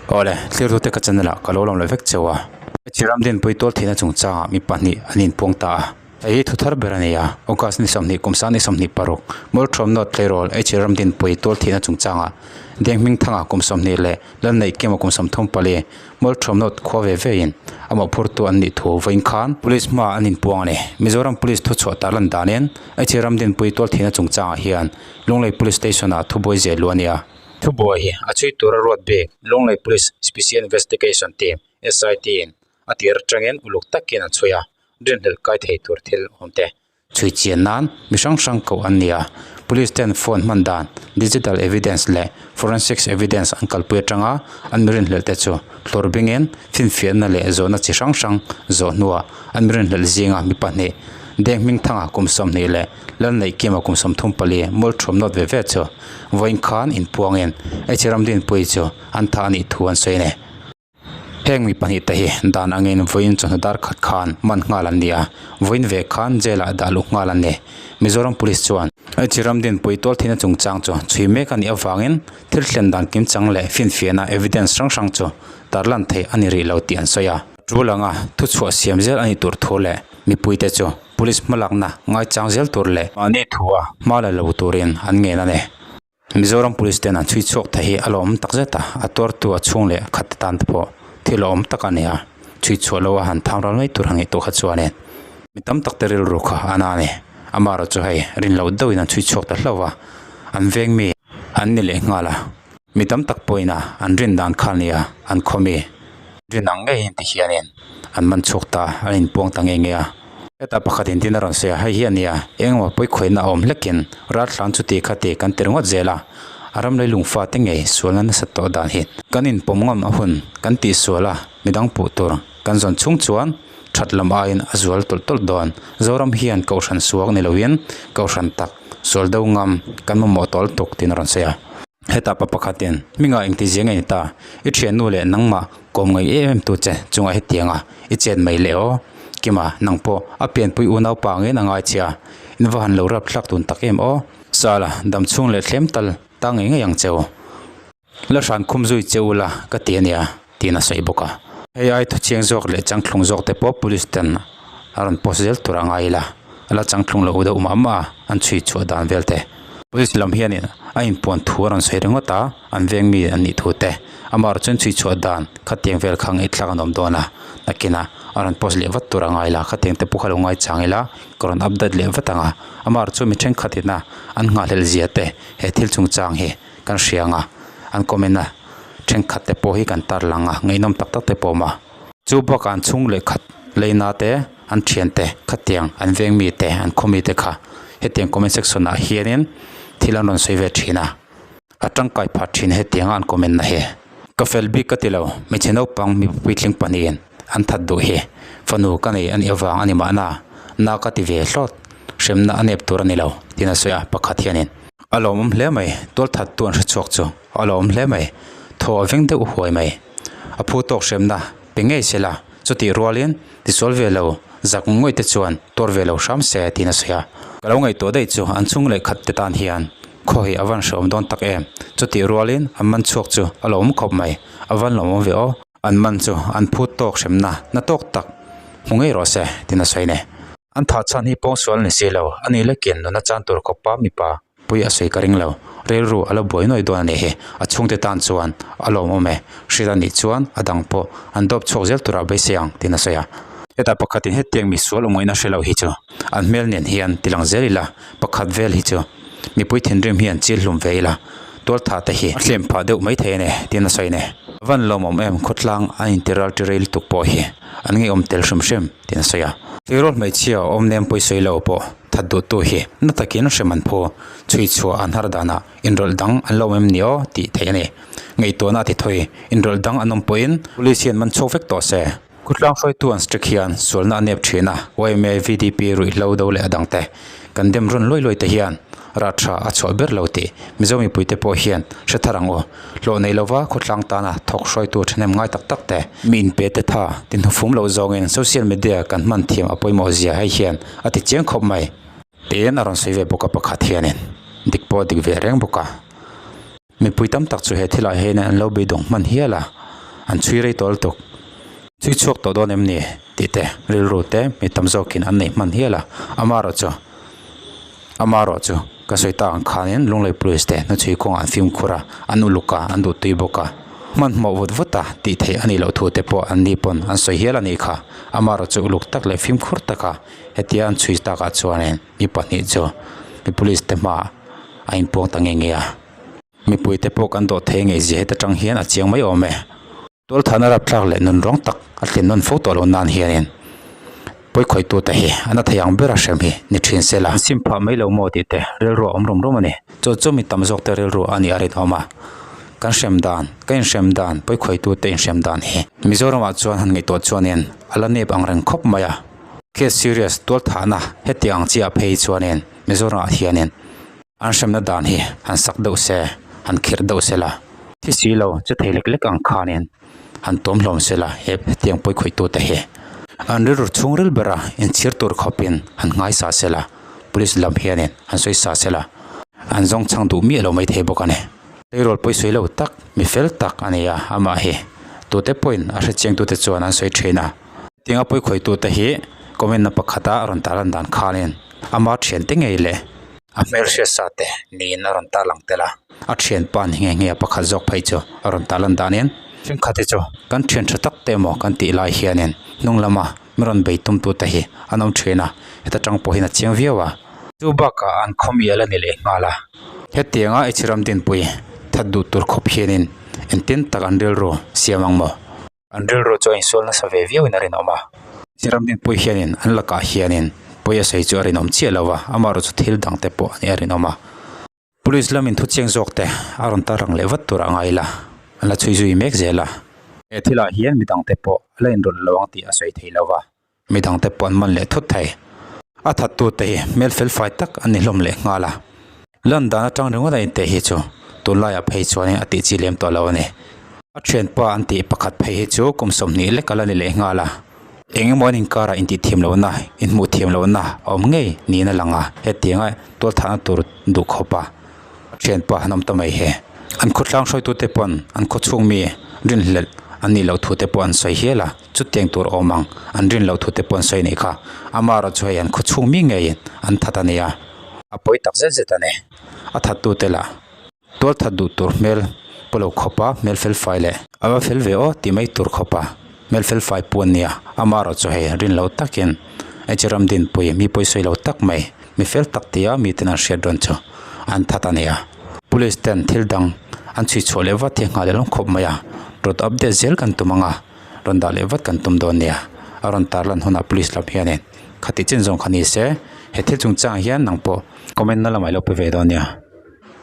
Awle, thliartu te ka channa lah ka lo lang leh vek cheu a. Hmeichhe Ramdinpui tual theihna chung changah mi pahnih an in puang ta a. Hei hi thu thar ber a ni a, August ni sawmhnih kum sang ni sawmhnih paruk, Murthawm North Tleirawl HE Ramdinpui tual theihna chung changah Denghming Thanga kum sawmhnih leh Lalneih Kema kum sawm thum pali Murthawm North khua ve ve in a mawhphurtu an nih thu vawiin khan Police hmaah an in puang a ni. Mizoram Police thu chhuah tar lan danin HE Ramdinpui tual theihna chung changah hian Lunglei Police Station ah thu buai zeh luh a ni a. Thubuai hi a chhui tur a ruat bik, Lunglei Police Special Investigation Team, SIT, in a tih rih tangin uluk takin an chhui a, rinhlelh kai thei tur thil awm te. Chhui chian nan mi hrang hrang koh an ni a, Police ten phone hman dan, digital evidence leh forensics evidence an kalpui atang a, an mi rinhlelh te chu hlur bingin finfiahna leh zawhna chi hrang hrang zawh hnuah an mi rinhlelh zinga mi pahnih, Deng Hmingthanga kum sawmhnih leh Lanneih kima kum sawm thum pali mul thum nawt ve ve chu vawiin khan in puangin Hmeichhe Ramdin Puii chu an tha a nih thu an sawi a ni. Heng mi pahnih te hi dan angin vawiin chawhnu dar khat khan man nghal an ni a, vawiin ve khan jail ah dah luh nghal an ni. Mizoram Police chuan. Hmeichhe Ramdin Puii tawlthiahna chungchang chu chhui mek a nih avangin thil thlen dan kim chang leh finfiahna evidence hrang hrang chu tar lan thei a ni rih lo tih an sawi a. Thu langa thu chhuah siam zel a nih tur thu leh mipui te chu. Police hmalakna ngaichang zel tur leh. Mahni thu a hma la lo turin an ngen a ni. Mizoram Police ten an chhui chhuak thei hi a lawm tak zet a, a tuartu a chhung leh khat te tan te pawh thil a awm tak a ni a, chhui chhuah lo a han tham ral mai tur a ngaih tur kha chuanin mi tam tak te rilru kha an a ni. Ama erawh chu hei rin loh deuhin an chhui chhuak ta hlauh a, an veng mi an ni leh nghal a. Mi tam tak pawhin a an rin dan kha nia an khaw mi rin ang ngei inti hianin an man chhuak ta an in puang ta ngei ngei a. Heta pakhatin tin a rawn sawi a, hei hian nia engemaw pawikhawihna a awm hlekin ral thlan chuti kha te kan tir ngawt zel a, a ram lei lung fate ngei sualna nasa tawh dan hi kan in pawm ngawm a hun kan tih sual a, midang puh tur kan zawn chhung chuan. That lam aiin a zual tawlh tawlh dawn. Zoram hian Kohhran suak ni loin Kohhran tak, sual deuh ngam, kan mamawh tawlh tuk tiin a rawn sawi a. Heta pa pakhatin, Hminga eng ti zia nge ni ta? I thiannu leh nangmah kawm ngaih em em tu che chungah hetianga i chet mai leh aw. Kima, nang pawh a pianpui unaupa angin a ngaichhia. In va han lo rap thlak dun tak em aw. Sala, damchhung leh thlem tal ta ngei ngei ang che aw. La hran khum zui che ula ka ti a nia, tiin a sawi bawk a. Hei ai thuchiang zawk leh changthlung zawk te pawh police ten a rawn post zel tur a ngai ila, ala changthlung loh deuh mah mah a an chhui chhuah dan vel te. Police lam hianin a inpuan thu a rawn sawi ringawt a, an veng mi an nih thu te. Amaherawh chuan chhui chhuah dan khatiang vel kha ngaihthlak an awm dawn a, nakina a rawn post leh vat tur a ngai ila, khatiang te pawh ka lo ngaichang ila ka rawn update leh vat ang a. Amaherawh chu mi thenkhatina an nghahhlelh zia te he thil chungchang hi. kan hria ang a, an comment a thenkhat te pawh hi kan tar lang a, ngeihnawm tak tak te pawh a mah. Chu bakah an chhung leh khat leina te, an thian te, khatiang an veng mi te, an khaw mi te kha hetiang comment section ah hianin thil an rawn sawi ve thin a, a tangkai pha thin hetianga an comment na hi. Ka fel bik ka ti lo, hmeichhe naupang mipa puitling pahnihin. An that duh hi fanu ka nei a nih avang a ni mahna na ka ti ve hlawt, hremna a nep tur a ni lo, tiin a sawi a, pakhat hianin. A lawmawm hle mai, tualthattu an hre chhuak chu a lawmawm hle mai, thaw a veng deuh huai mai. A phu tawk hremna pe ngei se la, chutih rualin tisual ve lo, zak ngawih te chuan tuar ve lo hram se, tiin a sawi a. Ka lo ngaihtuah daih chu an chung leh khat te tan hian khaw hi a van hrehawm dawn tak em, chutih rualin an man chhuak chu a lawmawm khawp mai, a van lawmawm ve aw. An man chu an phut tawk hremna na tawk tak hmu ngei rawh se tiin a sawi ne. An thah chhan hi pawng sual ni si lo, a ni la kian nuna chan tur khawpa mipa pui a sawi ka ring lo, rilru a la buai nuai dawn a nih hi, a chhungte tan chuan a lawm awm e, hrilh a nih chuan a dang pawh an dawp chhuak zel tur a be se ang tiin a sawi a. Heta pakhatin hetiang misual awm ngei na hre lo hi chu an hmel nen hian tilang zel ila pakhat vel hi chu. Mipui thinrim hi an chil hlum ve ila, tualtha te hi a hlem phah deuh maithei a ni, tiin a sawi a ni. Van lawm awm em, khawtlang an intiraltirei lutuk pawh hi an ngaihawm tel hrim hrim, tiin a sawi a. Eirawt hmeichhia awmnem pawisoi lo pawh that duhtu hi na takin hrem an phu, chhui chhuah an har danah inrawlh dang an la awm em ni aw tih theih a ni. Ngaihtuahna a ti thawi, inrawlh dang an awm pawhin police hian man chho vek tawh se. Khawtlangfaitu an strict hian sualna a nep thin a, yma VDP ruih hlo do leh a dang te, kan dem rawn luai luai te hian rat tha a chhuah ber lo tih Mizo mipui te pawh hian hre thar ang u, hlawh nei lo va khawtlang tana thawk hruaitu thahnem ngai tak tak te, mi in pe te tha ti hnu fum loh zawngin social media kan hman thiam a pawimawh zia hei hian a ti chiang khawp mai. Tiin a rawn sawi ve bawk a pakhat hianin, dik pawh a dik ve reng bawk a. Mipui tam tak chu he thil ah hian an lo beidawng hman hial a, an chhui rei tawl tuk. Chhui chhuak tawh dawn em ni? tih te rilru te mi tam zawk in an nei hman hial a. Amarawh chu, amarawh chu, ka sawi ta ang khan in Lunglei Police te hnu chhui kawng ah an fimkhur a, an uluk a, an duh tui bawk a. Hman mawh vut vut a, tih theih a nih loh thu te pawh an ni pawn an sawi hial a ni kha. Amarawh chu uluk tak leh fimkhur tak a, hetia an chhui tak ah chuan in. mi pahnih chu mi police te hmaah a in puang ta nge nge a mipui te pawh kan dawh thei ngei zia heta tang hian a chiang mai awm e. Tual thahna rapthlak leh nun rawng tak a thlin nawn fo tawh lo nan hianin pawi khawih tu te hi an a thei ang ber a hrem hi ni thin sel a. Sim phah mai lo maw tih te rilru a awm rum rum a ni. Chu chu mi tam zawk te rilru a nih a rinawm a. Kan hrem dan ka in hrem dan pawi khawih tu te in hrem dan hi Mizoram ah chuan han ngaih tawh chuanin a la nep ang reng khawp mai a. Case serious tualthahna hetiang ang chiah phei chuanin Mizorama hianin an hremna dan hi han sak deuh se, han kherh deuh se la, thi si lo che thei lek lek ang khanin han tuam hlawm se la hetiang pawi khawitute hi an rilru chhung ril bera inchhir tur khawpin han hmaisa se la, Police lam hianin han sawisa se la, an zawng chang duh miah lo mai thei bawk a ni. Payroll pawi sawi lo tak, mi fel tak a nia amah hi. Tute pawhin a hrechiangtute chuan an sawi thin a. Tiang a puikhawihtu te hi comment na pakhat a rawn tah lan dan khan in a mar thian te ngei le. A hmelhriatsa te niin a rawn tah lang tel a, a thian pan hi nge nge a pakhat zawk phei chu a rawn tah lan dan in. Thenkhat hi chu kan thian tha tak te emaw kan tih lai hian in hnung lama min rawn bei tum tu te hi an awm thin a, heta tang pawh hian a chiang viau a. Chu bakah an khawmi a la ni leh nghal a. Hetiang a Echiram Dinpuii that duh tur khawp hian in engtin tak an rilru siam ang maw? An rilru chu a insual nasa ve viau in a rinawm a. Siramdin pawi hianin an lakah hianin pawi a sawi chu a rinawm chiah lo a, amaherawhchu chu thil dang te pawh nih a rinawm a. Police lamin thuchiang zawk te a rawn tar rang leh vat tur a ngai ila, an la chhui zui mek zel a. He thil ah hian midang te pawh a la inrawlh lo ang tih a sawi thei lo a. Mi dangte pawh an man leh thut thei. A thattute hi hmel felfai tak an ni hlawm leh nghal a. Lan dan atang ringawt a inteh hi chu tunlaiah phei chuanin a tihchi lem tawh lo a ni. A thianpa an tih pakhat phei hi chu kum sawmhnih lek a la ni leh nghal a. Eng emaw an inkarah intih thiam lohna, inhmuh thiam lohna a awm ngei niin a lang a. Hetianga tualthlahna tur duh khawp a a thianpa han awm ta mai hi. An khawtlang hruaitute pawn an khawchhungmi rinhlelh an nih loh thu te pawh an sawi hial a. chu teng tur awm ang, an rin loh thu te pawh an sawi neih kha, Amara chu hei an khaw chhung mi ngei in an that a nia. A pawi tak zet zet a ni. A that tu te lah tual that duh tur hmel pawh lo khawp a, hmel fel fai leh. A va fel ve aw tih mai tur khawp a, hmel fel fai pawh a ni a, Amara chu hei rin loh tak in hei chu Ramdinpui mi pawi sawi lo tak mai, mi fel tak ti a mi ten an hriat dawn chu an that a nia. Police ten thil dang an chhui chhuah leh vat hi a nghah leh hlawm khawp mai a, rawt update zel kan tum ang a. Rawn dah leh vat kan tum dawn nia, a rawn tar lan hunah police lam hianin kha tih chin zawng kha ni se, he thil chungchangah hian nang pawh comment na la mailoh pe ve dawn nia.